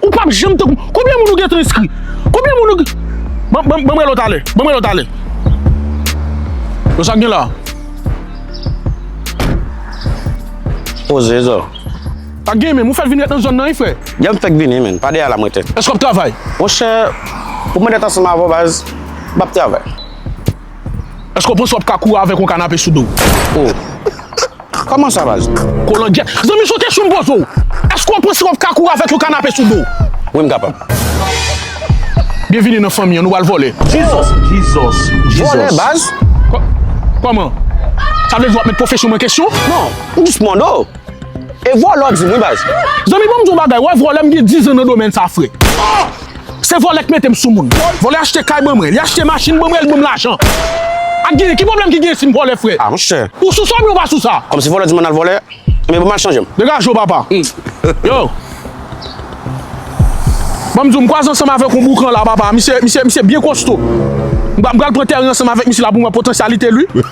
Ou pap janm te konprann. Konbyen moun ou gentan enskri? Konbyen moun ou gen Ban ban banm rele w talè. Banm rele w talè. Yo sa k gen la a? Poze zo. Sa k gen menm? Ou fèk vin ret nan zòn nan wi frè? Yè m fèk vini menn. Pa dèyè la m rete. Èske w ap travay? Monchè, pou mwen ret ansanm avè w baz, m pap travay. Eske w panse w ap ka kouri avèk yon kanape sou do w? Oh! Kòman sa baz? Kolangyèt! Zanmi se yon kesyon m poze w! Eske w panse w ap ka kouri avèk yon kanape sou do w? Wi m kapab. Byenvini nan fanmi an, nou pral vole. Jesus! Jesus! Vole baz? Kòman? Sa vle di w ap met pwofesyon mwen kesyon? Non, m jis mande w. E vole w di m wi baz. Zanmi banm di w yon bagay, wè vole m gen 10 zan nan domèn sa frè. Se vòlè k metem sou moun. Vòlè achte kay ban mwen, li achte machin ban mwen, li banm lajan. Ak genyen, ki pwoblèm ki genyen sim vòlè frè? Ah monchè. Ou sou sa oubyen ou pa sou sa? Kòmsi vòlè di mwen al vòlè, men banm al chanjem. Degaje w papa. Yo. Banm di w m kwaze ansanm avèk yon boukan la papa, misye misye misye byen kosto. M pral m pral pran tèren ansanm avèk misye la pou m wè potansyalite l wi.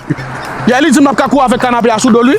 Yè li di m pap ka kouri avèk kanape a sou do l wi.